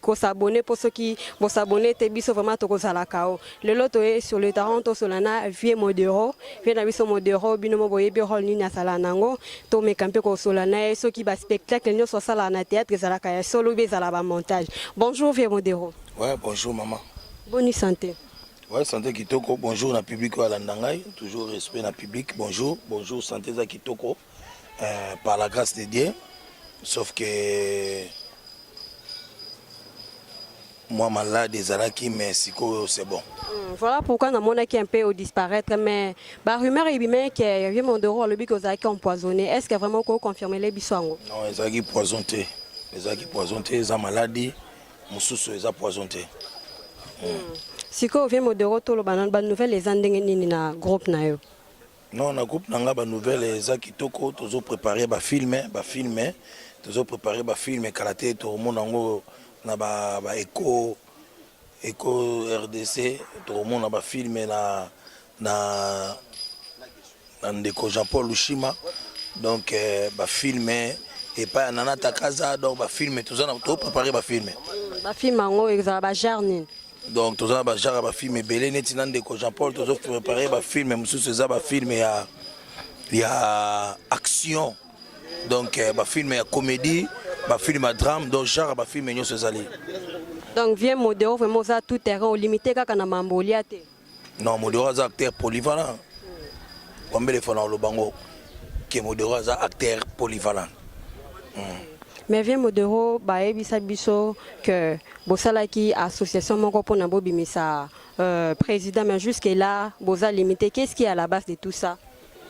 ko s'abonner po soki bo s'abonner te biso vraiment toko zala kao lelo toye sur le terrain to sola na vieux modero vieux na biso modero bino mo boyebi role nini asala nango to meka mpe ko sola na ye soki ba spectacle nyoso asala na théâtre ezalaka ya solo ou ezala ba montage bonjour vieux modero ouais bonjour maman bonne santé ouais santé kitoko bonjour na public oyo alanda ngai toujours respect na public bonjour bonjour santé eza kitoko euh, par la grâce de Dieu sauf que moi malade ezalaki mais sikoyo c'est bon hmm, voilà pourquoi namonaki un peu au disparaître mais ba rumeur ebimaki ke vieux mondoro alobi ke ozalaki empoisonné est ce que vraiment okoki confirmele biso yango non ezalaki poison te ezalaki poison te eza maladi mosusu eza poison te hmm. sikoyo vieux mondoro toloba nano banouvelle eza ndenge nini na groupe na yo Non, na groupe na nga ba nouvelle eza kitoko, tozo preparer ba filme, ba filme, tozo preparer ba filme kala te tokomona yango na ba, ba echo echo RDC, tokomona ba filme na na na ndeko Jean Paul Lushima donc eh, ba filme epai ya Nana Takaza donc ba filme toza na to preparer ba filme. Ba film yango ezala ba genre nini? donc toza na bagenre ya bafilme ebele neti na ndeko jean paul tozo prépare bafilme mosusu eza bafilme ya ya action donc euh, bafilme ya comédie bafilme ya drame donc genre ya bafilme nyonso ezali donc vieux modero vraiment oza tout terrain olimite kaka na mambo olia te Non, Modero aza acteur polyvalent. Wambele fana oloba ngo que Modero aza acteur polyvalent. Mm. Mais vieux Modero bayebisa biso que bosalaki association moko mpo na bobimisa euh, président mais jusque là boza limité. Qu'est-ce qui est à la base de tout ça?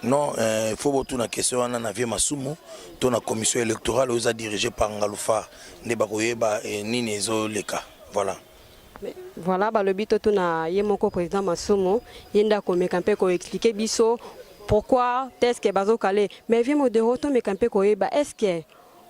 Non, il euh, faut botuna question wana na vieux Masumu to na commission électorale oza dirigée par Ngalufa nde bakoyeba eh, nini ezoleka. Voilà. Voilà, balobi totuna ye moko président Masumu, ye nda komeka mpe ko expliquer biso pourquoi est-ce que bazo kale. Mais vieux Modero tomeka mpe koyeba est-ce que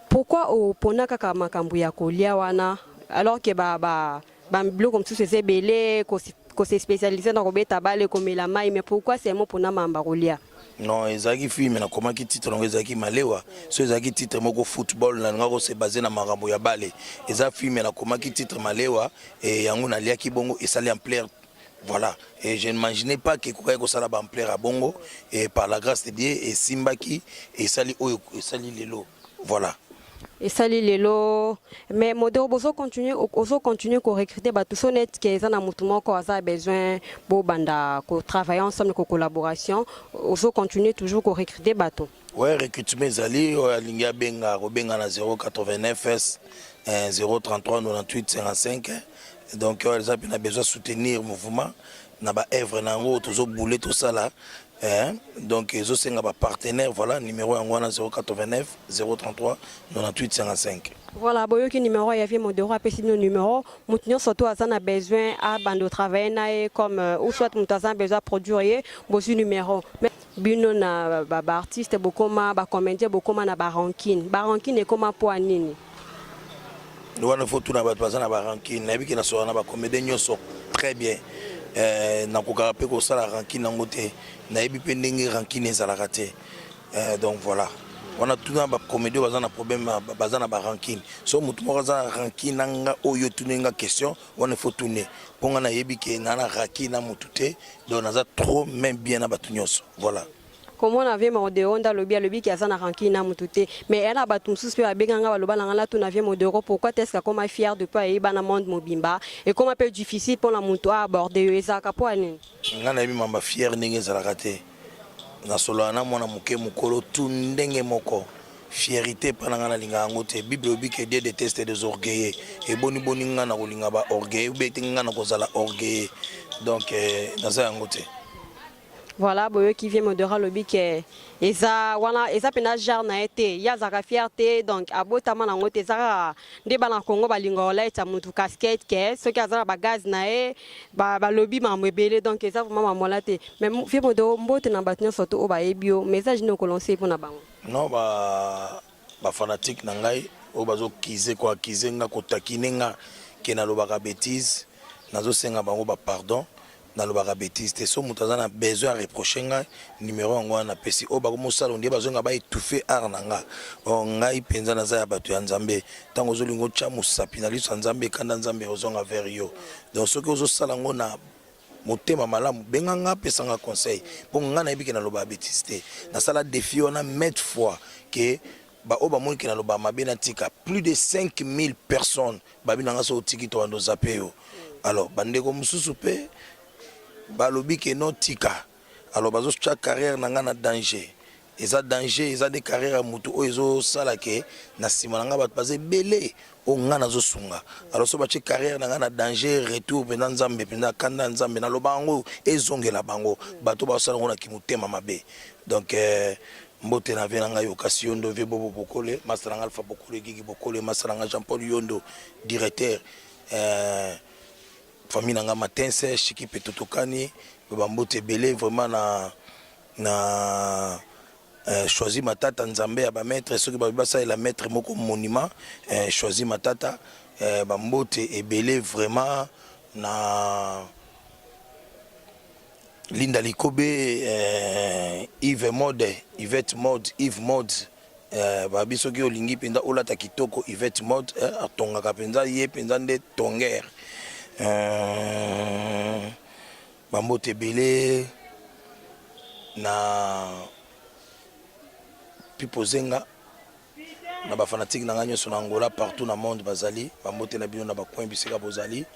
pourquoi opona kaka makambo ya kolia wana alors que ba ba ba biloko mosusu eza ebele ko se spécialiser na kobeta bale komela mai mais pourquoi seulement pona mamba kolia? Non, ezalaki film nakomaki titre nango ezalaki Malewa. So ezalaki titre moko football na nalingaki kose base na makambo ya bale. Eza film nakomaki titre Malewa e yango naliaki bongo esali ampleur voilà et je ne m'imaginais pas que ekokaki kosala ba ampleur ya bongo et par la grâce de Dieu esimbaki esali oyo esali lelo voilà. esali lelo mais modero bozo continue ozo continue ko recruter bato so net ke eza na motu moko aza besoin bobanda ko travailler ensemble ko collaboration ozo continue toujours ko recruter bato ouais recrutement ezali oyo alingi abenga akobenga na 089 s 033 98 55 donc oyo eza mpe na besoin soutenir mouvement na ba œuvre na yango tozo boule tosala Eh, donc ezosenga ba partenaire voilà numero yango wana 089 033 9855 Voilà, boyoki numéro ya vie modero apesi bino numéro moto nyonso to aza na besoin abanda otravaille na ye comme euh, ou soit moto aza na besoin aproduire ye bozwi numéro Mais bino na baartiste bokoma bacomédien bokoma na barankine barankine ekoma mpo ya nini wana faut tuna bato baza na barankine nayebi ke nasola na bacomédien nyonso très bien euh, nakokaka mpe kosala rankine yango te nayebi mpe ndenge rankine ezalaka te euh, donc voilà wana tuna bacomédien baza na problème baza na barankine so motu moko aza na rankine na nga oyo tuni nga question wana faut tune mpo nga nayebi ke naa na rankine na motu te donc naza trop main bien na bato nyonso voilà komona vie modero nda lobi alobi ki aza na rancune na mutu te mais eya na bato mosusu mpe babenga nga baloba na nga natuna vie modero pourquoi teske akoma fier de mpo ayebi bana monde mobimba ekoma mpe difficile mpo na motu aaborde yo ezalaka mpo ya nini nga nayebi mamba fier ndenge ezalaka te nasolola na mwana moke mokolo tu ndenge moko fierité epai na ngai nalinga yango te bible elobi ke dieu deteste des orgueilleux eboniboni ngai nakolinga ba orgueilleux ube te ngai nakozala orgueilleux donc euh, naza yango te Voilà, boyoki vient modera lobi ke eza wana eza pena genre na ete ya zaka fierté donc abota mana ngote zaka nde bana Congo balinga olaita mutu casquette ke soki azala ba gaz na e ba balobi mambo ebele donc eza vraiment mamola te mais vieux modero mbote na bato nyonso to oba ebio message nini okolonse pona bango non ba ba fanatique na ngai oyo bazo kize ko akize nga ko takine nga ke nalobaka betise nazo senga bango ba pardon Nalobaka betise te soki mutu aza na besoin a reprocher nga numero yango wana napesi oyo bakomi osala ondire bazonga ba etouffe art na nga or ngai penza naza ya batu ya nzambe tango ozolinga otia musapi na liso ya nzambe kanda nzambe ekozonga vers yo donc soki ozosala yango na motema malamu benga nga pesa nga conseil po nga nayebi ke nalobaka betise te nasala defi wana maitre fois ke baoyo bamoni ke nalobaka mabe natika plus de 5000 personnes Babi na nga soki otiki tobanda ozape yo alors bandeko mosusu mpe balobi ke no tika alors bazotya carrière na nga na danger eza danger eza nde carrière ya motu oyo ezosala ke na nsima na nga bato baza ebele oyo nga nazosunga alors so batye carrière na nga na danger retour mpenza nzambe mpenza kanda ya nzambe naloba yango ezongela bango bato bazosala yango na kimotema mabe donc euh, mbote na vie na ngai okasi yondo vie bobo bokole masta na ngai alpha bokole gigi bokole masta na ngai jean paul yondo directeur euh, famille na ngai matense shiki mpe totokani bambote ebele vraiment na na euh, choisi matata nzambe ya bamaître soki babi basalela maître moko monument euh, choisi matata euh, bambote ebele vraiment na Linda Likobe, eh, Yves Mode, Yvette Mode, Yves Mode eh, babi soki olingi mpenza olata kitoko Yvette Mode eh, atongaka mpenza ye mpenza nde tonger eh, bambote ebele na pipo zenga na bafanatike na ngai nyonso na angola partout na monde bazali bambote na bino na bacoin bisika bozali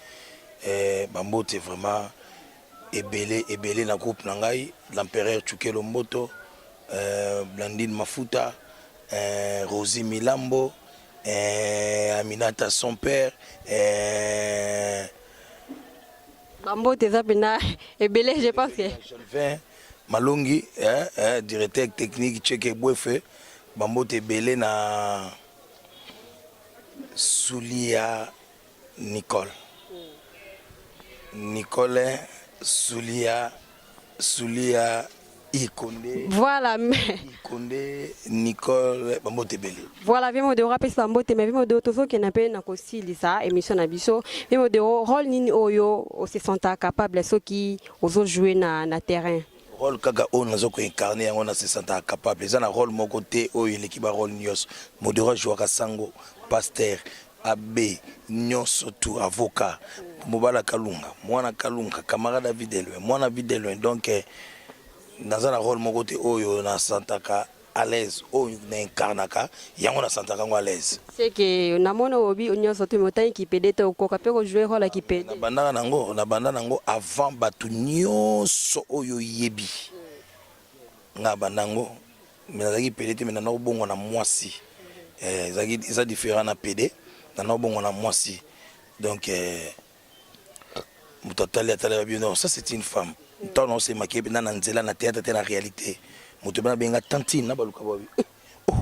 eh, bambote vraiment ebele ebele na groupe na ngai l'empereur Chukelo Mboto euh, Blandine Mafuta euh, Rosie Milambo euh, Aminata son père euh, bambote eza mpena ebele je pense que Jalvin Malongi eh, eh, directeur technique Cheke Bwefe bambote ebele na Sulia Nicole. Nicole Sulia Sulia Ikonde. Voilà. Ikonde Nicole Bambotebele. Voilà Vimo de rapes Bambote mais Vimo de tozo qui n'a pas na kosili ça émission na biso. Vimo de rôle nini oyo o se sent capable ce qui ozo jouer na na terrain. rôle kaka oyo nazo ko incarner yango na se senta capable eza na rôle moko te oyo eleki ba rôle nyonso modero jouaka sango pasteur Abbe nioso tout avocat mobala kalunga muana kalunga camarade ya vie de loin muana vie de loin donc naza na role moko te oyo na santaka à l'aise oyo na incarnaka yango na santaka yango à l'aise C'est que na mona obi nioso tout mais otangi kipede te okoka pe ko jouer role ya kipede. na bandaka nango na banda nango avant batu nioso oyo oyebi Nga banda yango mais nazalaki pede te mais nana obongwa na mwasi eh, ezalaki eza différent na pede nana obongwa na mwasi donc eh, moto atali atali babi non ça c'est une femme ntango naosemaki ye mpenza na nzela na théâtre te na réalité moto bana benga tantine na baluka babi Oh,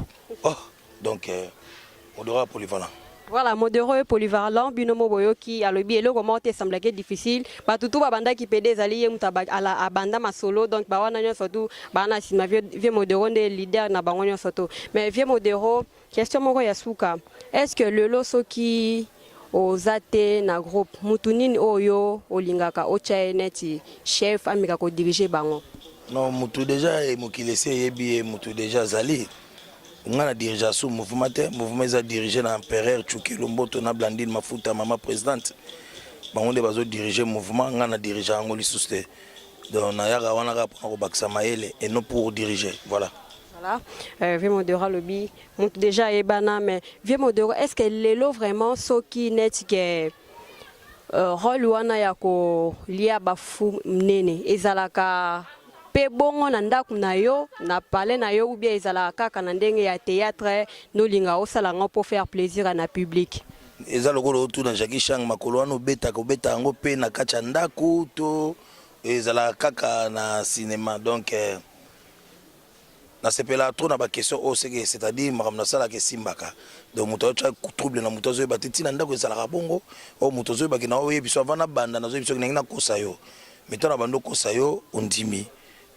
oh, donc euh, Modora polyvalent. Voilà, Modero est polyvalent, bino mo boyoki, alobi eloko moko te semblaki difficile. Bato tout babandaki pede ezali ye moto aba- ala- abanda masolo, donc ba wana nyonso tout baa na nsima vieux Vieux Modero nde leader na bango nyonso tout. Mais vieux Modero, question moko ya suka, est-ce que lelo soki oza te na groupe mutu nini oyo yo olingaka otya ye neti chef ameka ko dirige bango non mutu deja eh, mokili esi eyebi ye mutu deja azali nga na dirigea sous mouvement te mouvement eza dirige na empereur chukelu mboto na blandine mafuta mama presidente bango nde bazodirige mouvement ngai na dirige yango lisusu te donc nayaka wana kaka mpona kobakisa mayele et non pour dirige voilà voilà euh, vimodera lobi mutu dejà ayebana mais vieux modero est ce que lelo vraiment soki neti ke euh, role wana ya kolia bafu mnene ezalaka mpe bongo na ndako na yo na pale na yo ubia ezalaka kaka na ndenge ya théâtre nolinga osala yango mpo faire plaisir na public eza lokola otuna jacki shang makolo wana obetaka obetaka yango mpe na kati ya ndako to ezalaka kaka na cinéma donc eh, Na sepela trop na ba question oyo seke c'est à dire makambo na salaka esimbaka donc moto azotia trouble na moto azoyeba te ntina ndako ezalaka bongo oyo moto azoyeba ke na oyebi so avant na banda na zoyebi soki nangi nakosa yo mais ntango na banda okosa yo ondimi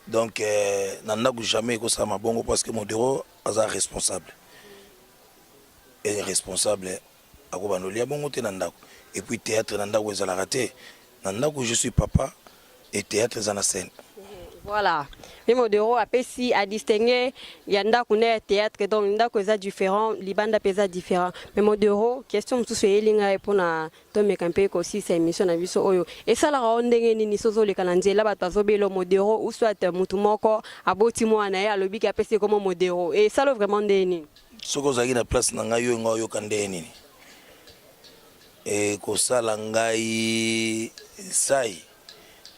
donc euh, na ndako jamais ekosalama bongo parce que modero aza responsable et responsable ako bando lia bongo te na ndaku et puis theatre na ndaku ezalaka te na ndaku je suis papa et theatre eza na scène Voilà. Mimi Odero apesi a distinguer ya ndako na ya théâtre donc ndako eza différent libanda mpe eza différent mais Modero question mosusu eyeli ngai mpo na tomeka mpe kosilisa émission na biso oyo esalaka yo ndenge nini soki ozoleka na nzela bato bazobelo Modero ou soit motu moko aboti mwana na ye alobi ke apesi ekomo Modero esala vraiment ndenge nini soki ozalaki na place na ngai yo nga oyoka ndenge nini ekosala ngai sai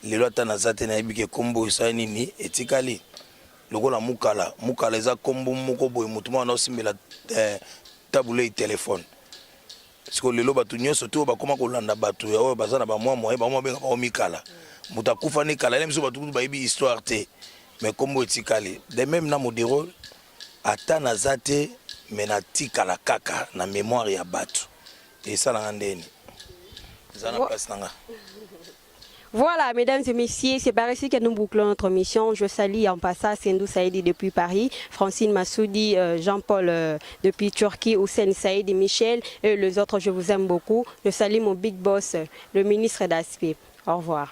lelo ata naza te nayebi ke nkombo esali nini etikali lokola mukala mukala eza nkombo moko boye motu mwana osimbela eh, tabulei telefone siko lelo bato nyonso te oyo bakoma kolanda bato ya oyo baza na bamwa moye bamwa benga bango mikala moto akufa ne kala ye biso bato kutu bayebi histoire te mais nkombo etikali de meme na modero Ata naza te mais na tikala kaka na memoire ya batu esala nga ndeni eza na place na nga. Voilà, mesdames et messieurs, c'est par ici que nous bouclons notre mission. Je salue en passant Sendou Saïdi depuis Paris, Francine Massoudi, euh, Jean-Paul euh, depuis Turquie, Hussein Saïdi, Michel et les autres. Je vous aime beaucoup. Je salue mon big boss, le ministre d'Aspect. Au revoir.